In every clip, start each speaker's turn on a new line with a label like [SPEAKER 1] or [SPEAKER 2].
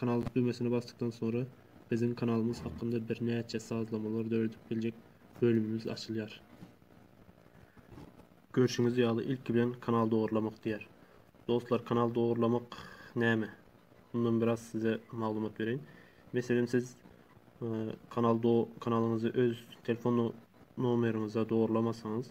[SPEAKER 1] Kanal düwmesine basdykdan soňra biziň kanalymyz hakynda birnäçe sazlamalar döredip biljek bölümimiz açylýar. Görşüňiz ýaly ilki bilen kanal dogurlamak diýer. Dostlar kanal dogurlamak näme? Mundan biraz size maglumat bereýin. Meselem siz e, kanal do kanalyňyzy öz telefon nomeriňize dogurlamasaňyz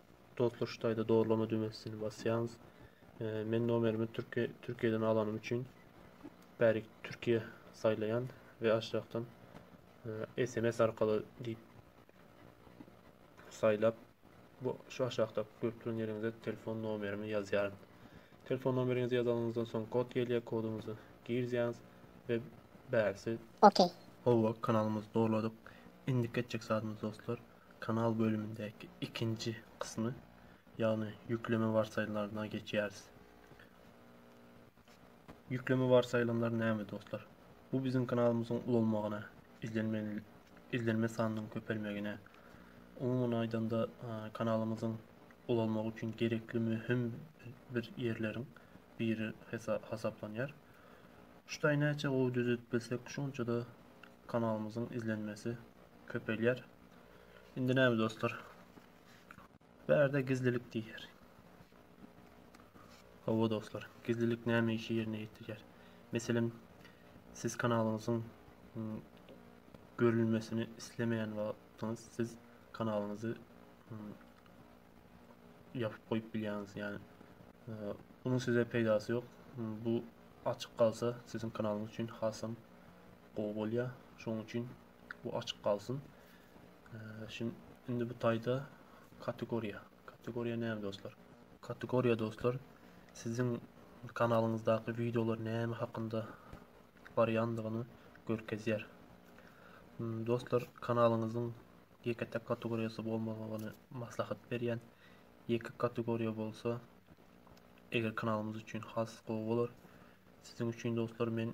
[SPEAKER 1] Dostlar şu taýda doğrulama düwmesini basýaňyz. Men nomerimi Türkiye Türkiye'den alanym üçin bärik Türkiye saýlaýan we aşakdan SMS e, arkaly diýip saýlap bu şu aşakda görüp duran ýeriňize telefon nomerimi ýazýaryn. Telefon nomeriňizi ýazanyňyzdan soň kod gelýär, koduňyzy girýäňiz we bärsi. Okey.
[SPEAKER 2] Howa, kanalymyzy
[SPEAKER 1] dogladyk. Indiki etjek zadymyz dostlar. Kanal bölümindäki ikinji kysmy, ýagny ýükleme warsaýylanlaryna geçýäris. Ýükleme warsaýylanlary näme dostlar? Bu biziň kanalymyzyň ulalmagyna, izlenme sanynyň köpelmegine, umuman aýdanda kanalymyzyň ulalmagy üçin gerekli möhüm bir ýerleriň biri hasaplanýar. Şu taýy näçe gowy düzedip bilsek, şonça-da kanalymyzyň izlenmesi köpelýär. Indi näme dostlar? Bärde gizlilik diýýär. Hawa dostlar, gizlilik näme işi ýerine ýetirýär? Meselem, siz kanalyňyzyň hmm, görülmesini islemeýän wagtyňyz siz kanalyňyzy hmm, ýapyp goýup bilýäňiz. Ýani Bunun size peýdasy ýok. Bu açyk galsa siziň kanalyňyz üçin hasam gowy bolýar. Şonuň üçin Bu açyk galsyn. Şimdi indi bu tayda kategoriya. Kategoriya näme dostlar? Kategoriya dostlar sizin kanalyňyzdaky videolar näme hakynda barýandygyny görkezýär. Hmm, dostlar kanalyňyzyň ýeke tek kategoriýasy bolmagyny maslahat berýän. Ýeke kategoriýa bolsa eger kanalymyz üçin has gowy bolar. Siziň üçin dostlar men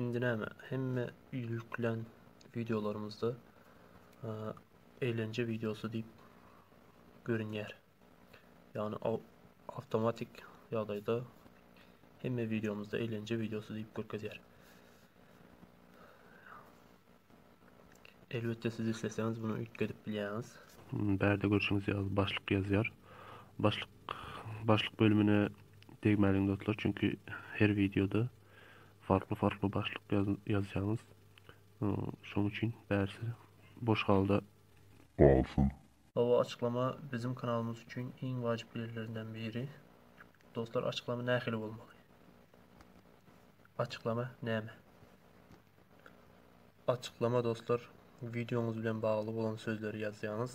[SPEAKER 1] Indi näme hemme ýüklän wideolarymyzda eýlence wideosy diýip görünýär. Ýagny awtomatik ýagdaýda hemme wideomyzda eýlence wideosy diýip görkezýär. Elbetde siz isleseňiz bunu üýtgedip bilýäňiz. Bärde görşüňiz ýaly başlyk ýazýar. Başlyk başlyk bölümine degmäliň dostlar çünki her wideoda farkly farkly başlyk ýazýaňyz. Şoň üçin bärsi boş halda galsyn. Hawa açyklama biziň kanalymyz üçin iň wajyp ýerlerinden biri. Dostlar açyklama nähili bolmaly? Açyklama näme? Açyklama dostlar wideoňyz bilen bagly bolan sözleri ýazýaňyz.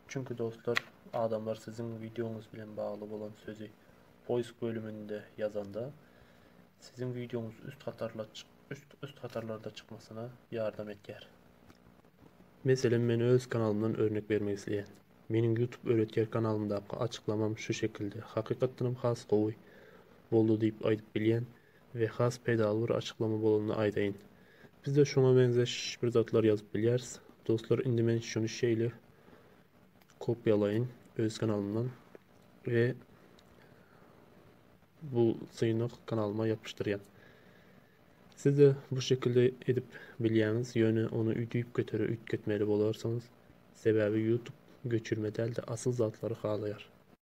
[SPEAKER 1] Çünki dostlar adamlar siziň wideoňyz bilen bagly bolan sözi poýsk bölüminde ýazanda siziň wideoňyz üst hatarla üst hatarlarda çykmasyna ýardam etýär. Meselem men öz kanalymdan örnek bermek isleýän. Meniň YouTube öwretýär kanalymdaky açyklamam şu şekilde hakykatdanam has gowy boldy diýip aýdyp bilýän. We has peýdaly bir açyklama bolanda aýdaýyn. Bizde şoňa meňzeş bir zatlar ýazyp bilýäris. Dostlar indi men şuny şeýle kopýalaýyn öz kanalymdan we bu synyk kanalyma ýapyşdyrýan. Sizde bu şekilde edip bilýäňiz, ýöne ony üýtüp götere üýtgetmeli bolarsyňyz. Sebäbi YouTube göçürme däl-de asyl zatlary halaýar.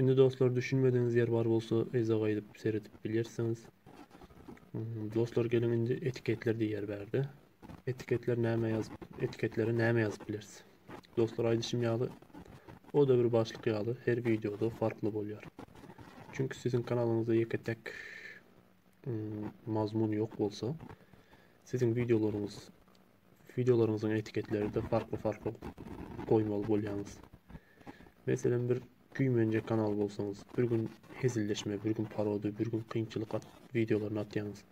[SPEAKER 1] Indi dostlar düşünmedigiňiz ýer bar bolsa yza gaýdyp seredip bilýärsiňiz. Hmm, dostlar geliň indi etiketler diýýär bärde. Etiketler näme ýazyp, etiketlere näme ýazyp bileris. Dostlar aýdyşym ýaly o da bir başlyk ýaly her wideoda farkly bolýar. Çünki siziň kanalyňyzda ýeke tek hmm, mazmun ýok bolsa, siziň wideolaryňyz Wideolaryňyzyň etiketleri-de farkly-farkly goýmaly bolýaňyz. Meselem, bir güýmenje kanal bolsaňyz, bir gün hezilleşme, bir gün parodiýa, bir gün kynçylyk at wideolaryny atýaňyz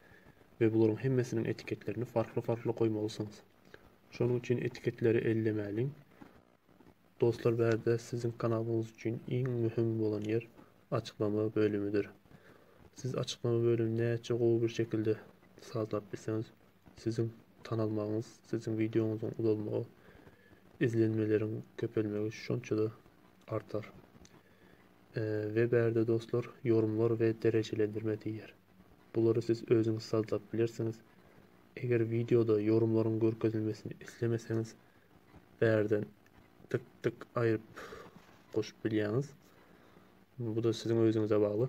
[SPEAKER 1] we bularyň hemmesiniň etiketlerini farkly-farkly goýmalysyňyz. Şonuň üçin etiketleri ellemäliň. Dostlar, bärde siziň kanalyňyz üçin iň möhüm bolan ýer açyklama bölümidir. Siz açyklama bölümini näçe gowy bir şekilde sazlap bilseňiz, Siziň tanalmagyňyz, siziň wideoňyzyň uzalmagy, izlenmeleriň köpelmegi şonça-da artar. We bärde dostlar, ýorumlar we derejelendirme diýýär. Bulary siz özüňiz sazlap bilersiňiz. Eger wideoda ýorumlaryň görkezilmesini islemeseňiz, bärden tyk tyk aýryp goşup bilýäňiz. Bu-da siziň özüňize bagly.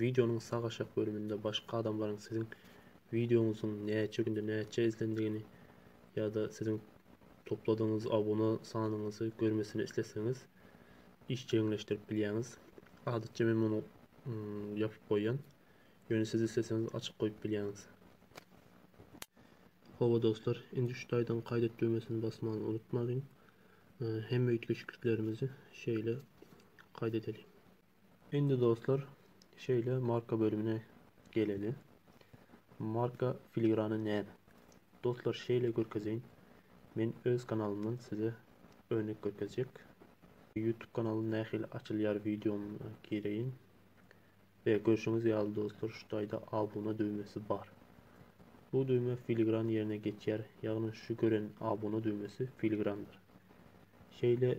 [SPEAKER 1] Wideonyň sag aşak bölüminde başga adamlaryň siziň wideoňyzyň näçe günde näçe izlendigini ýa-da siziň topladygyňyz abuna sanyňyzy görmesini isleseňiz işjeňleşdirip bilýäňiz. Adatça men muny ýapyp goýýan. Ýöne siz isleseňiz açyk goýup bilýäňiz. Hawa dostlar, indi şu taýdan gaýt et düwmesini basmany unutmalyň. Hemme üýtgeşikliklerimizi şeýle gaýt edeliň. Indi dostlar, şeýle marka bölümine geleli. Marka filigrany näme? Dostlar, şeýle görkezeýin. Men öz kanalymdan size örnek görkezjek. YouTube kanaly nähili açylýar wideoma gireýin. Ve görşüňiz ýaly dostlar, şu taýda abuna düwmesi bar. Bu düwme filigran ýerine geçýär, ýagny şu gören abuna düwmesi filigrandyr. Şeýle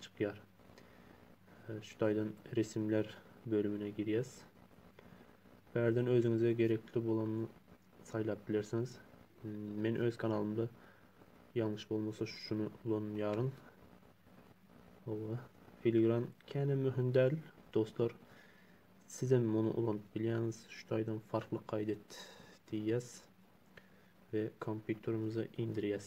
[SPEAKER 1] çykýar. Şu taýdan resimler bölümine girýäs. Bu ýerden özüňize gerekli bolanyny saýlap bilersiňiz. Men öz kanalymda ýalňyş bolmasa şuny ulanýaryn. Owa, filigran kene möhüm däl, dostlar. Siz hem muny ulanyp bilýäňiz. Şu taýdan farkly gaýt et diýýäs we kompýuterimize indirýäs.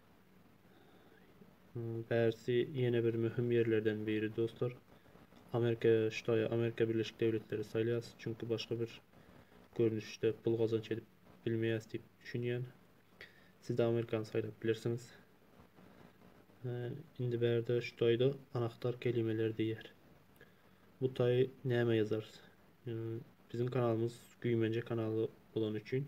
[SPEAKER 1] Bärsi ýene bir möhüm ýerlerden biri dostlar. Amerika Ştaýy, Amerika Birleşik Döwletleri saýlaýas, çünki başga bir görnüşde pul gazanç edip bilmeýäs diýip düşünýän. Siz-de Amerikany saýlap bilersiňiz. Indi bärde Ştaýda anahtar kelimeler diýýär. Bu taý näme ýazarys? Biziň kanalymyz güýmenje kanaly bolany üçin